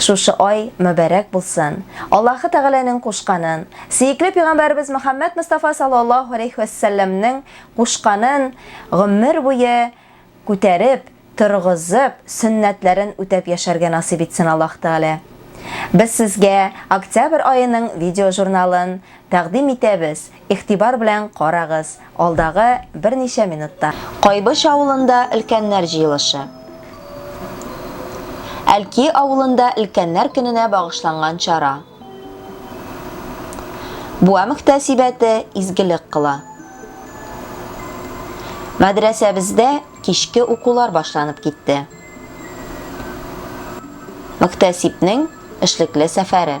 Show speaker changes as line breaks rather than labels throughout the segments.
Шушы ай мөбәрәк булсын. Аллаһы Тәгаләнең кушканын, сөекле пигамбәребез Мөхәммәд Мустафа саллаллаһу алейхи ва сәлләмнең кушканын гомер буе күтәреп, торгызып, сөннәтләрен үтәп яшәргә насыйп итсен Аллаһ Тәгалә. Без сезгә октябрь аеның видеожурналын тәкъдим итәбез, Игътибар белән карагыз, алдагы берничә минутта. Кайбыч авылында өлкәннәр җыелышы. Әлки авылында өлкәннәр көненә багышланган чара. Буа мөхтәсибәте изгелек кыла. Мәдрәсәбездә кичке укулар башланып китте. Мөхтәсибнең эшлекле сәфәре.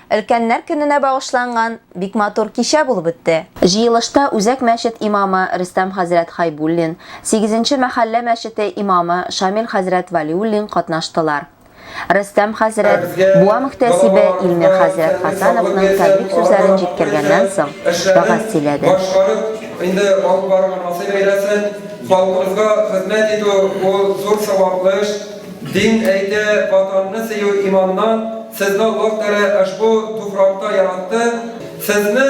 Өлкәннәр көненә багышланган бик матур кичә булып үтте. Җыелышта үзәк мәчет имамы Рөстәм хәзрәт Хәйбуллин, сигезенче мәхәллә мәчете имамы Шамил хәзрәт Вәлиуллин катнаштылар. Рөстәм хәзрәт Буа мөхтәсибе Илмир хәзрәт Хәсәновның тәбрик сүзләрен җиткергәннән соң, вәгазь сөйләде. Башкарып инде
алып барырга насыйп әйләсен. Халкыбызга хезмәт итү, ул зур саваплы эш. Дин әйтә, Ватанны сөю иманнан, Сезне Аллаһ Тәгалә ошбу туфракта яратты, Сезне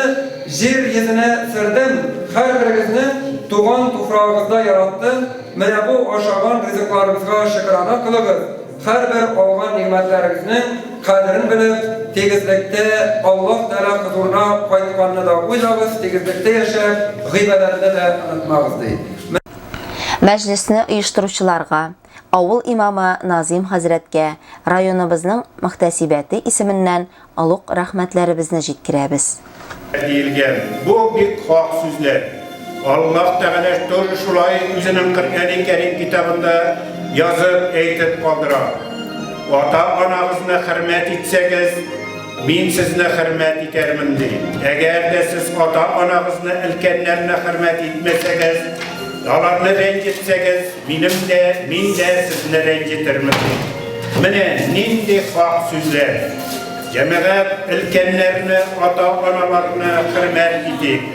җир йөзенә сөрдем, һәрберегезне туган туфрагыгызда яратты, менә бу ашаган ризыкларыгызга шөкерана кылыгыз, һәрбер алган нигъмәтләрегезнең кадерен белеп, тигезлектә Аллаһ Тәгалә хозурына кайтканны да уйлагыз, тигезлектә яшәп, гыйбадәтне дә онытмагыз, ди.
Мәҗлесне оештыручыларга, авыл имамы Назим хәзрәткә районыбызның мөхтәсибәте исеменнән олуг рәхмәтләребезне җиткерәбез. Диелгән.
Бу, бик хак сүзләр. Аллаһ Тәгалә тоже шулай Үзенең Коръәни Кәрим китабында язып, әйтеп калдыра, Ата-анагызны хөрмәт итсәгез, Мин сезне хөрмәт итәрмен, ди. Әгәр дә сез ата-анагызны, өлкәннәрне хөрмәт итмәсәгез, аларны рәнҗетсәгез, Минем дә, мин дә сезне рәнҗетермен. Менә нинди хак сүзләр. Җәмәгать, өлкәннәрне, ата-аналарны хөрмәт итик.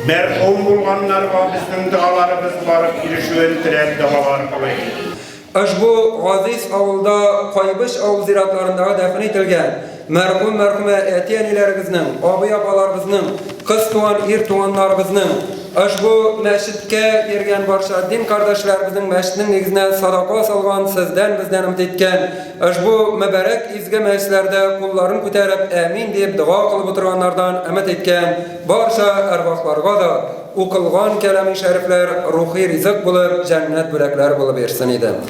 Мәрхүм булганнарга безнең догаларыбыз барып ирешүен теләп догалар кылыйк. Ошбу
газиз авылда Кайбыч авыл зиратларындагы дәфен ителгән. Мәрхүм, мәрхүмә әти-әниләребезнең, абый-апаларыбызның, кыз туган, ир туганнарыбызның, ошбу мәчеткә йөргән барча дин кардәшләребезнең мәчетнең нигезенә садака салган, сездән, бездән өмет иткән, ошбу мөбарәк изге мәҗлесләрдә кулларын күтәреп, әмин диеп дога кылып утырганнардан өмет иткән барча әрвахларга да укылган кәлами шәрифләр рухи ризык булып, җәннәт бүләкләре булып йөрсен иде.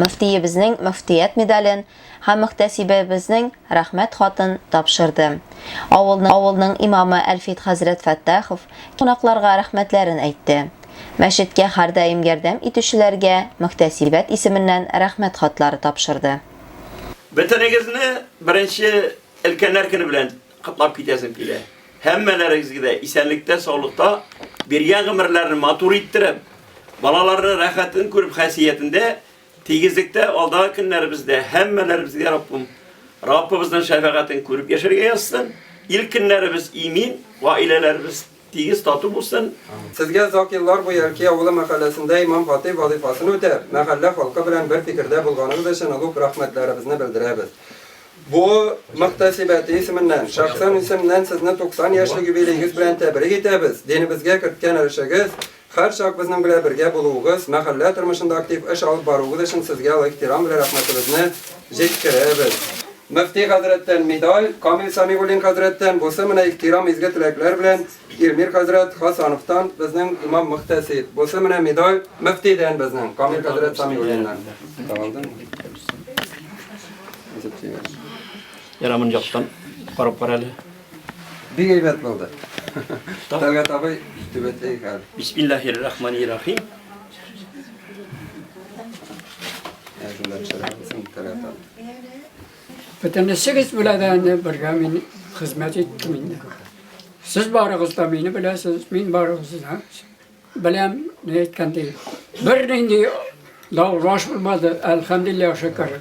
Мөфтиебезнең мөфтият медален һәм мөхтәсибәбезнең рәхмәт хатын тапшырды. Авылның авылның имамы Әлфит хәзрәт Фәттахов кунакларга рәхмәтләрен әйтте. Мәчеткә һәрдаим ярдәм итүчеләргә мөхтәсибәт исеменнән рәхмәт хатлары тапшырды. Бөтенегезне
беренче өлкәннәр көне белән Котлап китәсем килә. Һәммәләрегезгә дә исәнлектә, саулыкта, биргән гомерләрен матур иттереп, балаларны рәхәтен күреп хәсиятендә, тигезлектә алдагы көннәребездә һәммәләребезгә Раббым Раббыбызның шәфәгатен күреп яшәргә язсын. Ил көннәребез имин, гаиләләребез Тигез тату булсын. Сезгә озак еллар
буе Әлки авылы мәхәлләсендә имам-хатыйб вазыйфасын үтәп, мәхәллә халкы белән бер фикердә булганыгыз өчен олуг рәхмәтләребезне белдерәбез. Бу мөхтәсибәте исеменнән, шәхсән исемнән сезне 90 яшьлек юбилеегыз белән тәбрик итәбез, динебезгә керткән өлешегез, Һәрчак безнең белә бергә булуыгыз, мәхәллә тормышында актив эш алып баруыгыз өчен сезгә олы ихтирам белә рәхмәтебезне җиткерәбез. Мөфти хәзрәттән медаль, Камил Сәмигуллин хәзрәттән бусы менә ихтирам изге теләкләр белән Илмир хәзрәт Хасановтан безнең имам-мөхтәсиб, бусы менә медаль мөфтидән безнең Камил хәзрәт Сәмигуллиннан. Тагылдымы?
Ярар, моны яктан карап кара әле. Бик
әйбәт булды. Талгат абый түбәтәй хәл. Бисмиллахир рахманир
рахим.
Бөтенесегез белән дә инде бергә мин хезмәт иттем инде. Сез барыгыз да мине беләсез, мин барыгызны да беләм, ни әйткәндәй. Бернинди даулаш булмады, әлхәмдулиллаһ шөкер.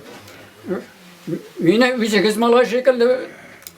Мине үзегез малай шикелле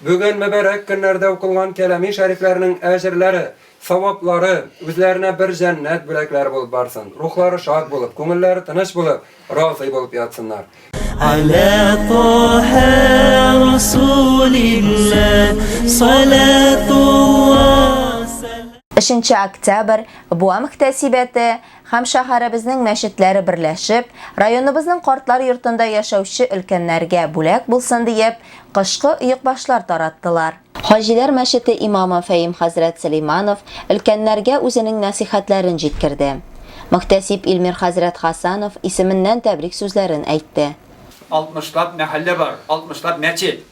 Бүген мөбарәк көннәрдә укылган кәләми шәрифләрнең әҗерләре, саваплары үзләренә бер җәннәт бүләкләре булып барсын, рухлары шат булып, күңелләре тыныч булып, разый булып ятсыннар. Аля
Тоһа Расулилла салатулла салам.
Өченче октябрь, Буа мөхтәсибәте, һәм шәһәребезнең мәчетләре берләшеп, районыбызның картлар йортында яшәүче өлкәннәргә бүләк булсын диеп, кышкы оекбашлар тараттылар. Хаҗиләр мәчете имамы Фәим хәзрәт Сөләйманов өлкәннәргә үзенең нәсыйхәтләрен җиткерде. Мөхтәсиб Илмир хәзрәт Хасанов исеменнән тәбрик сүзләрен әйтте. Алтмышлап
мәхәллә бар, алтмышлап мәчет.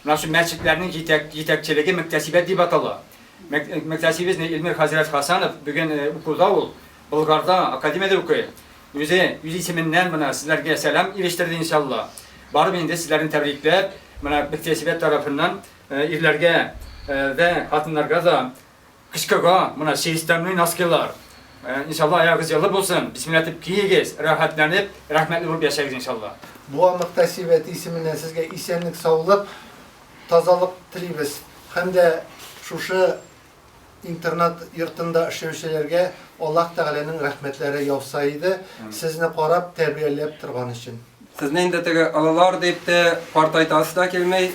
Менә шул мәчетләрнең җитәк җитәкчелеге мөктәсибәт дип атала. Мөктәсибезне Илмир хәзрәт Хасанов бүген укуда ул, Болгарда, академиядә укый. Үзе үз исеменнән менә сезләргә сәлам ирештерде иншалла. Барып инде сезләрне тәбрикләп, менә мөктәсибәт тарафыннан ирләргә дә, хатыннарга да Кычкыга, мына чиристәнле носкилар. Иншалла, аягыз елы булсын. Бисмилла дип киегез, рәхәтләнеп, рәхмәтле булып яшәгез, иншалла. Буа мөхтәсибәте
исеменнән сезгә исәнлек-саулык, тазалык телибез һәм дә шушы интернат йортында эшләүчеләргә Аллаһ Тәгаләнең рәхмәтләре яуса иде, сезне карап, тәрбияләп торган өчен. Сезне инде теге
олылар дип тә картайтасы да килми.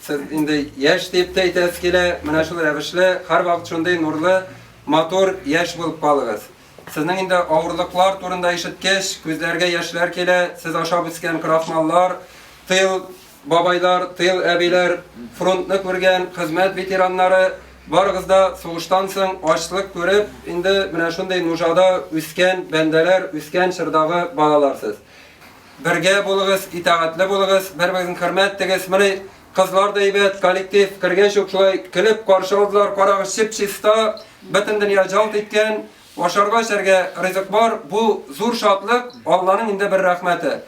Сез инде яшь дип тә әйтәсе килә. Менә шул рәвешле һәрвакыт шундый нурлы, матур, яшь булып калыгыз. Сезнең инде авырлыклар турында ишеткәч, күзләргә яшьләр килә. Сез ашап үскән крахмаллар, тыел Бабайлар, тыл әбиләр, фронтны күргән, хезмәт ветераннары, барыгыз да сугыштан соң ачлык күреп, инде менә шундый нужада үскән бәндәләр, үскән чордагы балалар сез. Бергә булыгыз, итәгатьле булыгыз, бер-берегезне хөрмәт итегез. Менә кызлар да әйбәт, коллектив кергәч үк шулай көлеп каршы алдылар, карагыз, чип-чиста, бөтен дөнья жалт иткән. Ашарга-эчәргә ризык бар, бу, зур шатлык, Алланың инде бер рәхмәте.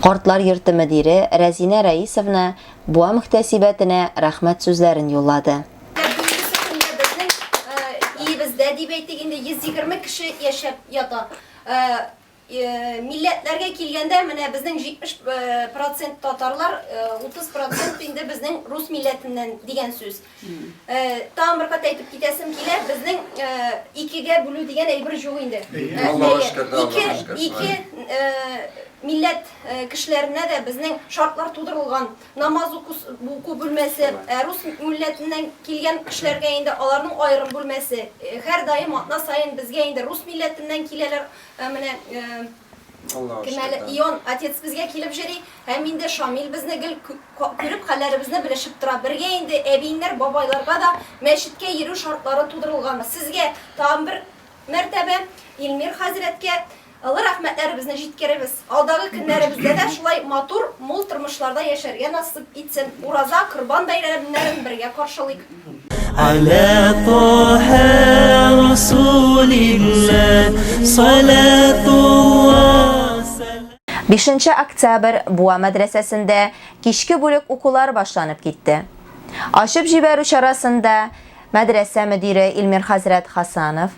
Картлар
йорты мөдире Рәзинә Рәисовна буа мөхтәсибәтенә рәхмәт сүзләрен юллады. Безнең
өебездә, дип әйтик инде, 120 кеше яшәп ята. Милләтләргә килгәндә, менә безнең 70 процент татарлар, 30 процент инде безнең рус милләтеннән дигән сүз. Тагын бер кат әйтеп китәсем килә, безнең икегә бүлү дигән әйбер юк инде.
Ике
милләт кешеләренә дә безнең шартлар тудырылган. Намаз уку бүлмәсе, рус милләтеннән килгән кешеләргә инде аларның аерым бүлмәсе. Һәрдаим атна саен безгә инде рус милләтеннән киләләр, Ә менә Кемәле Ион отец безгә килеп җыри, һәм инде Шамил безне гел күреп хәлләребезне белешеп тора. Бергә инде әбиеңнәр, бабайларга да мәчеткә йөрү шартлары тудырылганбыз. Сезгә тагын бер мәртәбә Илмир хәзрәткә олы рәхмәтләребезне җиткеребез. Алдагы көннәребездә
дә шулай матур, мул тормышларда яшәргә насыйп итсен, ураза, корбан бәйрәмнәрен бергә каршылыйк. Аля Таһа Расулилла салатулла
Бишенче октябрь Буа мәдрәсәсендә кичке бүлек укулары башланып китте. Ачып җибәрү чарасында мәдрәсә мөдире Илмир хәзрәт Хасанов,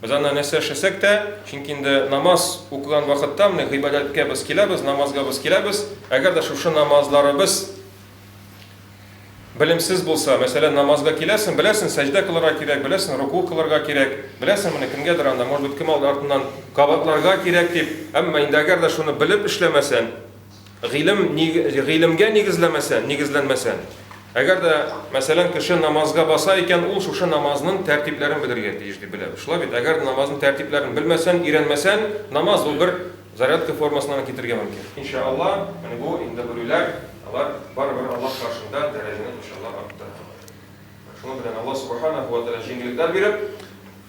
Без анда нәрсә эшләсәк тә, чөнки инде намаз укыган вакытта менә гыйбадәткә без киләбез, намазга без киләбез. Әгәр дә шушы намазларыбыз белемсез булса, мәсәлән, намазга киләсен, беләсен, сәҗдә кылырга кирәк, беләсен, руку кылырга кирәк, беләсен, менә кемгәдер анда, может быть, кем алды артыннан кабатларга кирәк дип, әмма инде әгәр дә шуны белеп эшләмәсән, Гыйлем, гыйлемгә нигезләмәсә, нигезләнмәсә, әгәр дә, мәсәлән, кеше намазга баса икән, ул шушы намазның тәртипләрен белергә тиеш дип беләбез. Шулай бит, әгәр намазның тәртипләрен белмәсән, өйрәнмәсән, намаз ул бер зарядка формасына гына китергә мөмкин. Инша Алла, менә бу инде белүләр, алар барыбер Аллаһ каршында дәрәҗәне инша Аллаһ арттыра. Шуның белән Аллаһ Субханәһү вә Тәгалә җиңеллекләр биреп,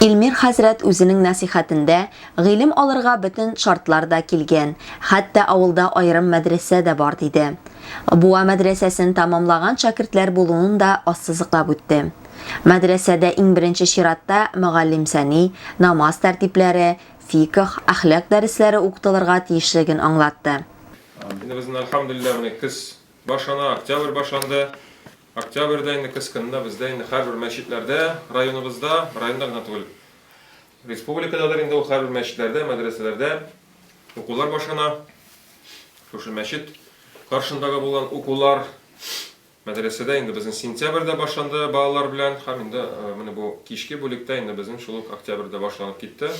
Илмир хәзрәт үзенең нәсыйхәтендә гыйлем алырга бөтен шартлар да килгән, хәтта авылда аерым мәдрәсә дә бар, диде. Буа мәдрәсәсен тәмамлаган шәкертләр булуын да ассызыклап үтте. Мәдрәсәдә иң беренче чиратта мөгаллим сәни, намаз тәртипләре, фикх, әхлак дәресләре укытылырга тиешлеген аңлатты. Инде безнең,
әлхәмдүлилләһ, менә көз башлана, октябрь башланды. Октябрьдә инде көз көнендә бездә инде һәрбер мәчетләрдә, районыбызда, районда гына түгел, республикададыр инде ул һәрбер мәчетләрдә, мәдрәсәләрдә укулар башлана. Шушы мәчет каршындагы булган укулар мәдрәсәдә инде безнең сентябрьдә башланды балалар белән һәм инде менә бу кичке бүлектә инде безнең шул ук октябрьдә башланып китте.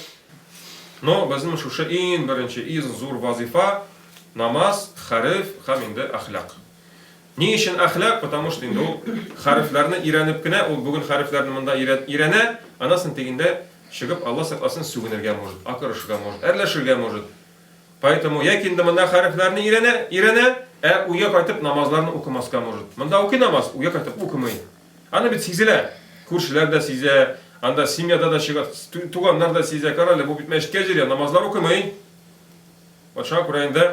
Но безнең шушы иң беренче, иң зур вазыйфа, намаз, хәреф һәм инде әхлак. Ни өчен әхлак? Потому что инде ул хәрефләрне өйрәнеп кенә, ул бүген хәрефләрне монда өйрәнә, аннан соң тегендә чыгып, Алла сакласын, сүгенергә может, акырышырга может, әрләшергә может. Поэтому яки инде монда хәрефләрне өйрәнә, өйрәнә, ә уйга кайтып намазларны укымаска может. Монда укый намаз, уйга кайтып укымый. Аны бит сизелә. Күршеләр дә сизә, анда семьяда да чыга, туганнар да сизә, карале, бу бит мәчеткә җөря, намазлар укымый. Вот шуңа күрә инде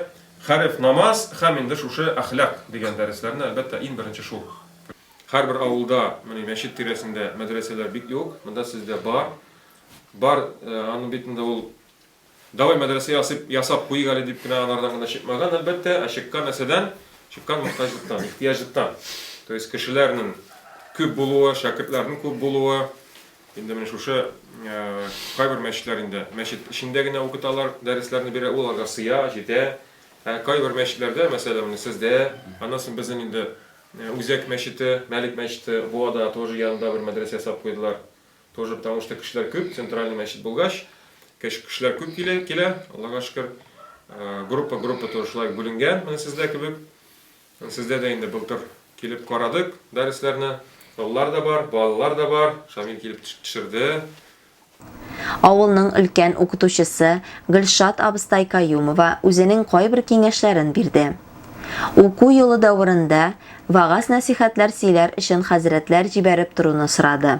Хәреф, намаз һәм инде шушы әхлак дигән дәресләрне, әлбәттә, иң беренче шул. Һәрбер авылда, менә мәчет тирәсендә мәдрәсәләр бик юк, монда сездә бар. Бар, аны бит инде ул Давай мәдрәсә ясыйк, ясап куйыйк әле дип кенә алардан гына чыкмаган, әлбәттә, ә чыккан нәрсәдән? Чыккан мохтаҗлыктан, ихтыяҗлыктан. То есть кешеләрнең күп булуы, шәкертләрнең күп булуы, Инде менә шушы кайбер мәчетләр инде мәчет эчендә генә укыталар, дәресләрне бирә, ул аларга сыя, җитә. Ә кайбер мәчетләрдә, мәсәлән, менә сездә, аннан соң безнең инде Үзәк мәчете, Мәлик мәчете, Буада тоже янында бер мәдрәсә ясап куйдылар. Тоже потому что кешеләр күп, центральный мәчет булгач, кешеләр күп килә, килә, Аллага шөкер. Группа-группа тоже шулай бүленгән, менә сездә кебек. Сездә дә инде былтыр килеп карадык дәресләрне. Олылар да бар, балалар да бар. Шамил килеп төшерде.
Авылның өлкән укытучысы Гөлшат абыстай Каюмова үзенең кайбер киңәшләрен бирде. Уку елы дәверендә вәгазь-нәсыйхәтләр сөйләр өчен хәзрәтләр җибәреп торуны сорады.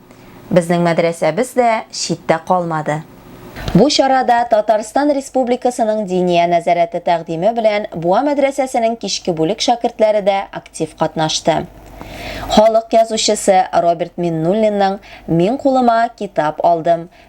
Безнең мәдрәсәбез дә читтә калмады. Бу чарада Татарстан Республикасының Диния нәзарәте тәкъдиме белән Буа мәдрәсәсенең кичке бүлек шәкертләре дә актив катнашты. Халык язучысы Роберт Миннуллинның Мин кулыма китап алдым,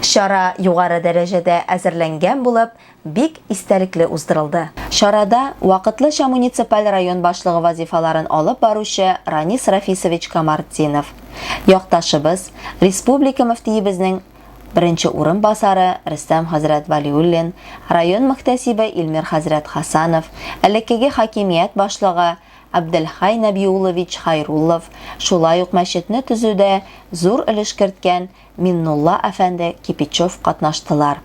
Чара югары дәрәҗәдә әзерләнгән булып, бик истәлекле уздырылды. Чарада вакытлыча муниципаль район башлыгы вазифаларын алып баручы Ранис Рафисович Камартдинов, якташыбыз, республика мөфтиебезнең беренче урынбасары Рөстәм хәзрәт Вәлиуллин, район мөхтәсибе Илмир хәзрәт Хасанов, элеккеге хакимият башлыгы Абделхәй Нәбиуллович Хайруллов, шулай ук мәчетне төзүдә зур өлеш керткән Миннулла әфәнде Кипичев катнаштылар.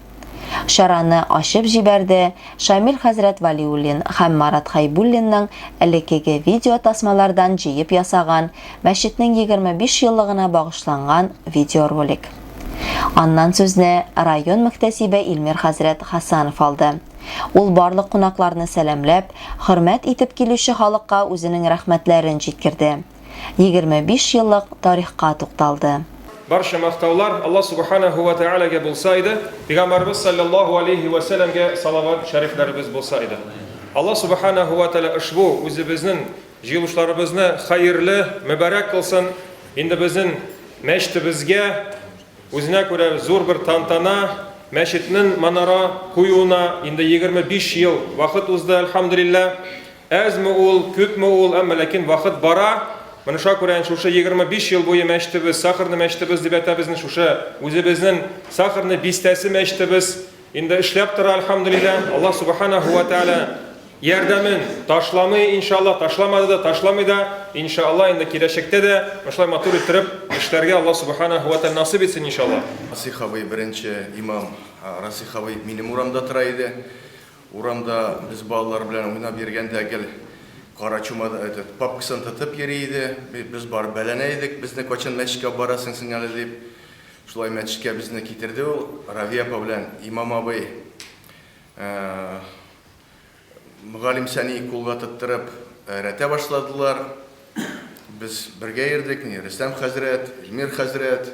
Чараны ачып җибәрде Шамил хәзрәт Вәлиуллин һәм Марат Хәйбуллинның элеккеге видеотасмалардан җыеп ясаган мәчетнең 25 еллыгына багышланган видеоролик. Аннан сүзне район мөхтәсибе Илмир хәзрәт Хәсанов алды. Ул барлык кунакларны сәламләп, хөрмәт итеп килүче халыкка үзенең рәхмәтләрен җиткерде. 25 еллык тарихка тукталды. Барча мактаулар
Алла Субханәһү вә Тәгаләгә булса иде, Пәйгамбәребез салләллаһу алейһи вә сәләмгә салават шәрифләребез булса иде. Алла Субханәһү вә Тәгалә ошбу үзебезнең җыелышларыбызны хәерле, мөбарәк кылсын, инде безнең мәчетебезгә үзенә күрә зур бер тантана, мәчетнең манара куюына инде 25 ел вакыт узды, әлхәмдүлилләһ. Әзме ул, күпме ул, әмма ләкин вакыт бара, менә шуңа күрә инде шушы 25 ел буе мәчетебез, Сахарный мәчетебез дип әйтәбез инде шушы, үзебезнең Сахарный бистәсе мәчетебез инде эшләп тора, әлхәмдүлилләһ. Аллаһ Субханаһу ва Тәгалә ярдәмен ташламый, иншаллаһ, ташламады да, ташламый да, иншаллаһ, инде киләчәктә дә шулай матур иттереп эшләргә Аллаһ Субханаһу ва Тәгалә насыйп итсен, иншаллаһ. Расих абый, беренче
имам Расих абый минем урамда тора иде. Урамда без балалар белән уйнап йөргәндә гел кара чума этот папкасын тотып йөри иде. Без барып бәләнә идек, безне кайчан мәчеткә алып барасың син әле дип. Шулай мәчеткә безне китерде ул, Равия апа белән имам абый. Мөгаллимсәне кулга тоттырып рәтә башладылар. Без бергә йөрдек, Рөстәм хәзрәт, Эльмир хәзрәт,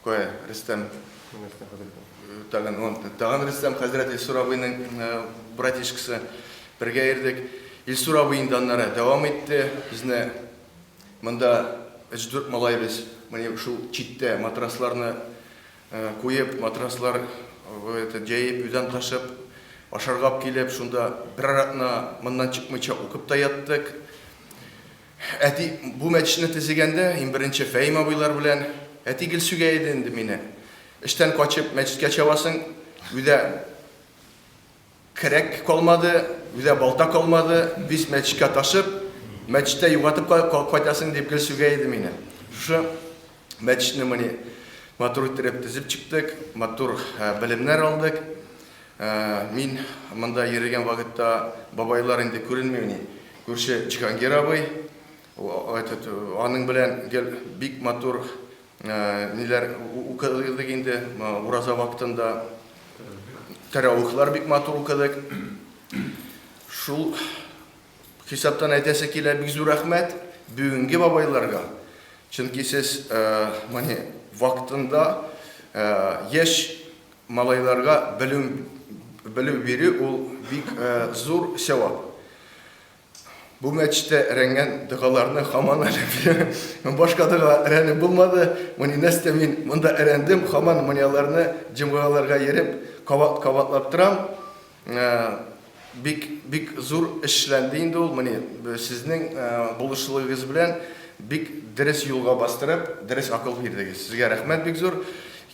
Кая, Рөстәм? Рөстәм хәзрәт. Тагын он, тагын Рөстәм хәзрәт Илсур абыйның братишкасы. Бергә ирдек. Илсур абый инде аннары дәвам итте. Безне монда өч-дүрт малай без менә шул читтә матрасларны куеп, матраслар это җәеп, өйдән качып, ашарга алып килеп, шунда берәр атна моннан чыкмыйча укып та яттык. Әти бу мәчетне тезегәндә, ин беренче Фәим абыйлар белән әти гел сүгә иде инде мине. Эштән качып мәчеткә чабасың, үдә керәк калмады, үдә балта калмады, виз мәчеткә ташып, мәчеттә югатып кайтасың дип гел сүгә иде мине. Шушы Мәчетне моны матур иттереп төзеп чыктык, матур белемнәр алдык. Мин монда йөргән вакытта бабайлар инде күренмени. Күрше Җиһангир абый, этот, аның белән гел бик матур ниләр укыдык инде, ураза вакытында тәравихлар бик матур укыдык. Шул Хисаптан әйтәсе килә, бик зур рәхмәт бүгенге бабайларга. Чөнки сез мани вакытында яшь малайларга белем белем бирү ул бик зур сәвап. Бу мәчтә рәнгән дәгаларны хаман әле бирәм. Башка дәга рәне булмады. Мани нәрсә мин монда әрәндем, хаман манияларны җомгаларга йөреп, кабат-кабатлап торам. Бик бик зур эшләнде инде ул, мени сезнең булышлыгыгыз белән бик дерес юлга бастырып, дерес акыл бирдегез. Сезгә рәхмәт бик зур.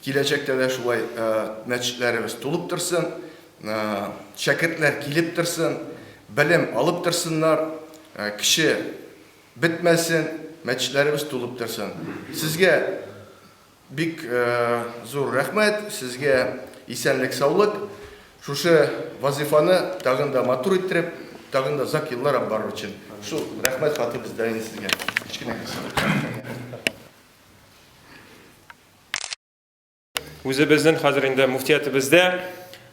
Киләчәктә дә шулай мәчетләребез тулып торсын, шәкертләр килеп торсын, белем алып торсыннар, кеше бетмәсен, мәчетләребез тулып торсын. Сезгә. Бик зур рәхмәт сезгә, исәнлек саулык, шушы вазыйфаны тагын да матур иттереп, тагын да озак еллар алып барыр өчен. Шул рәхмәт хаты бездә инде сезгә. Кечкенә
Үзебезнең хәзер инде муфтиятебездә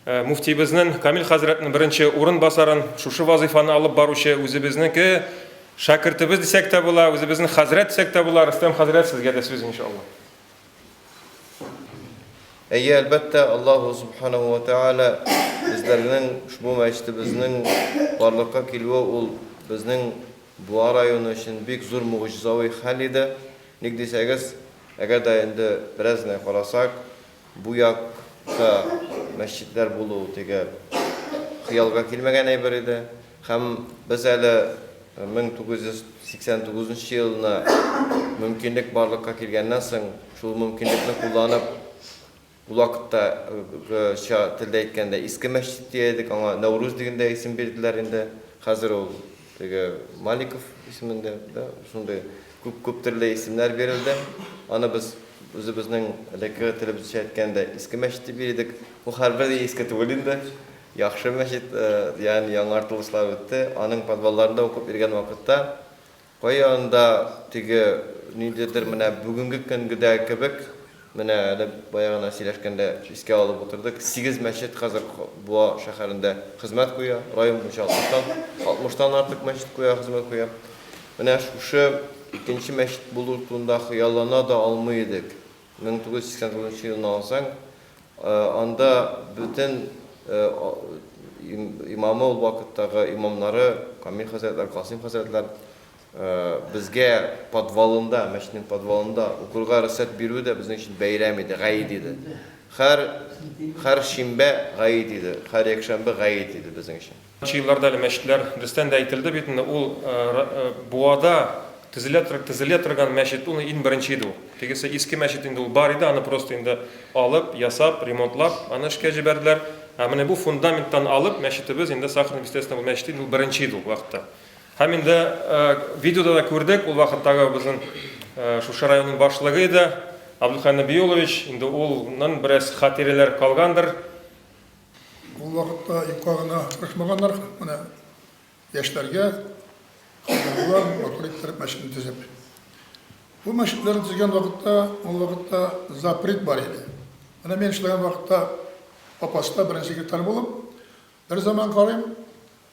Муфтиебезнең, Камил хәзрәтнең беренче урынбасарын, шушы вазыйфаны алып баручы үзебезнеке шәкертебез дисәк тә була, үзебезнең хәзрәт дисәк тә була, Рөстәм хәзрәт, сезгә дә сүз, иншалла.
Әйе, әлбәттә, Аллаһу Субханаһу ва Тәгалә безләрнең ошбу мәчетебезнең барлыкка килүе ул безнең Буа районы өчен бик зур могҗизави хәл иде. Ник дисәгез, әгәр дә инде бераз генә карасак, Бу якта мәчетләр булу теге хыялга килмәгән әйбер иде. Һәм без әле 1989 нчы елны мөмкинлек барлыкка килгәннән соң, шул мөмкинлекне кулланып, ул вакытта гыча телдә әйткәндә, Иске мәчет дия идек, аңа Нәүрүз диген дә исем бирделәр инде, хәзер ул Теге Маликов исемендә дә шундый күп күп төрле исемнәр бирелде. Аны без үзебезнең элеккеге телебезчә әйткәндә Иске мәчет дип йөри идек. Ул хәрбер дә иске түгел инде. Яхшы мәчет, ягъни яңартылышлар үтте. Аның подвалларында укып йөргән вакытта кая анда теге ниндидер менә бүгенге көнгедәге кебек Менә әле бая гына сөйләшкәндә искә алып утырдык, сигез мәчет хәзер Буа шәһәрендә хезмәт куя, район буенча алтмыштан, алтмыштан артык мәчет куя, хезмәт куя. Менә шушы икенче мәчет булу турында хыяллана да алмый идек. 1989 нчы елны алсаң, анда бөтен имамы ул вакыттагы, имамнары, Камил хәзрәтләр, Касыйм хәзрәтләр, Безгә подвалында, мәчетнең подвалында укырга рөхсәт бирүе дә безнең өчен бәйрәм иде, гает иде. Һәр, һәр шимбә гает иде, һәр якшәмбе гает иде безнең өчен. Нчы елларда әле мәчетләр,
дөрестән дә әйтелде бит инде, ул Буада төзелә, төзелә торган мәчет, ул ин беренче иде ул. Тегесе иске мәчет инде ул бар иде, аны просто инде алып, ясап, ремонтлап, аны эшкә җибәрделәр. Ә менә бу фундаменттан алып, мәчетебез инде Сахарный Естественный мәчете инде ул беренче иде ул вакытта. Һәм инде видеода да күрдек, ул вакыттагы безнең Шушы районның башлыгы иде Абдулхай Нәбиуллович, инде улның бераз хатирәләр калгандыр.
Ул вакытта юкка гына тырышмаганнар, менә яшьләргә хатирәләр матур иттереп мәчетне төзеп. Бу мәчетләрне төзегән вакытта, ул вакытта запрет бар иде. Менә мин эшләгән вакытта Апаста беренче секретарь булып, берзаман карыйм,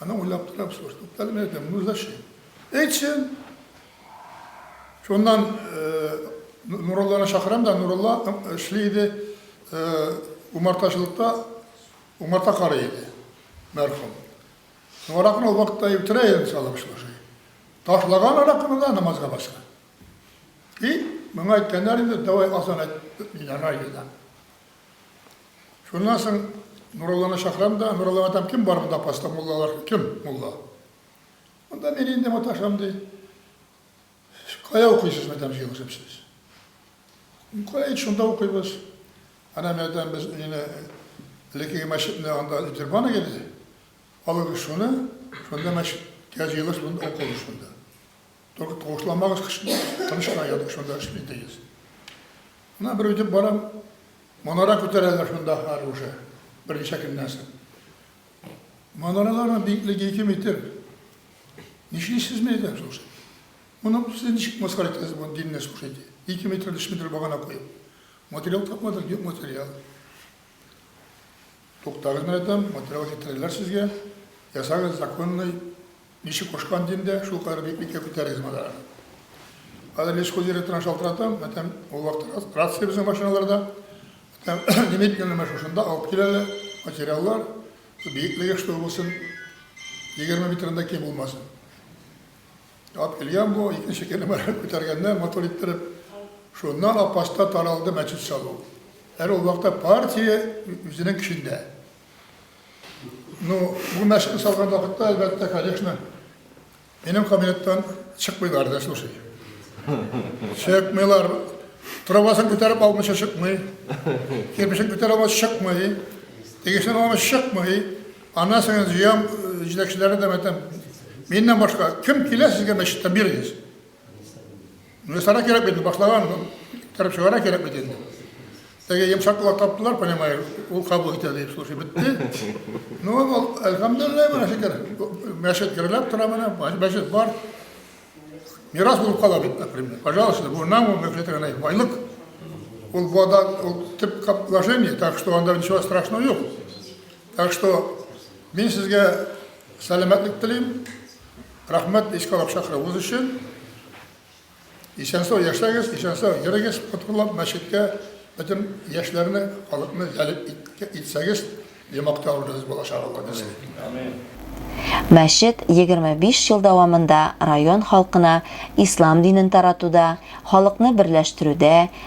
Аны уйлап торам, слушай, туктале, мен әйтәм, ну зачем? Әйтсен. Шуннан Нуралланы чакырам да, Нуралла эшли иде, умартачылыкта умарта карый иде, мәрхүм. Ну, аракыны ул вакытта үтерә иде, салып, слушай. Ташлаган аракыны да намазга баскан. И, миңа әйткәннәр инде, давай азан әйт, мин райда. Шуннан соң Нурулланы чакырам да, Нурулла атам, кем бар монда паста муллалар, кем мулла? Монда мин инде маташам ди. Кая укыйсыз, мәдәм җыелышып сез? Кая шунда укыйбыз. Ана мәдәм без инде элеккеге мәчетне анда интербаны иде. Алыгыз шуны, шунда мәчеткә җыелыш, шунда укыгыз шунда. Только тавышламагыз кешене, тыныч кына ятып шунда эшли дигез. Менә бер үтеп барам, манара күтәрәләр шунда хәл уже, берничә көннән соң. Манараларның биеклеге ике метр. Нишлисез мә идем, слушай? Моны сез ничек мыскар итәсез, моны динне, слушайте? Ике метр, өч метр багана куеп. Материал тапмадык, юк материал. Туктагыз менә там, материал китерерләр сезгә, ясагыз законный, ничек кушкан дим дә, шул кадәр бик бикә күтәрегез монараны. Хәзер лесхоз директорына шалтыратам, менә там ул вакытта рация безнең машиналарда, там немедленно менә шушында алып киләләр, материаллар, биеклеге что булсын, егерме метрдан да ким булмасын. Ат Ильям бу икенче кенемарен күтәргәннәр матур иттереп. Шуннан Апаста таралды мәчет салу. Әле ул вакытта партия үзенең көчендә. Ну, бу мәчетне салган вакытта, әлбәттә, конечно, минем кабинеттан чыкмыйлар да, слушай. Чыкмыйлар. Трубасын күтәреп алмыйча чыкмый. Кирпичен күтәреп алмыйча чыкмый. Тегесен алмыйча чыкмый. Аннан җыям, җитәкчеләргә дә әйтәм, миннән башка кем килә сезгә мәчеттә бирегез. Миясара кирәк бит, башлаган кереп чыгара кирәк бит инде. Теге йомшак кулак таптылар, понимаешь, ул кабул итә дип, слушай, бетте. Ну, ул, әлхәмдулилләһ, менә шикәр. Мәчет гөрләп тора менә, мәчет бар. Мирас булып кала бит, например. Пожалуйста, бу нам, мы все это байлык. Ул вода, ул тип кап вложение, так что анда ничего страшного юк. Так что мин сезгә сәламәтлек телим, рәхмәт искә алып чакыруыгыз өчен. Исән-сау яшәгез, исән-сау йөрегез, коткылап мәчеткә бөтен яшьләрне, халыкны җәлеп итсәгез, ямакта урыныбыз булачак Алла нәрсә. Амин.
Мәчет 25 ел дәвамында район халкына ислам динен таратуда, халыкны берләштерүдә,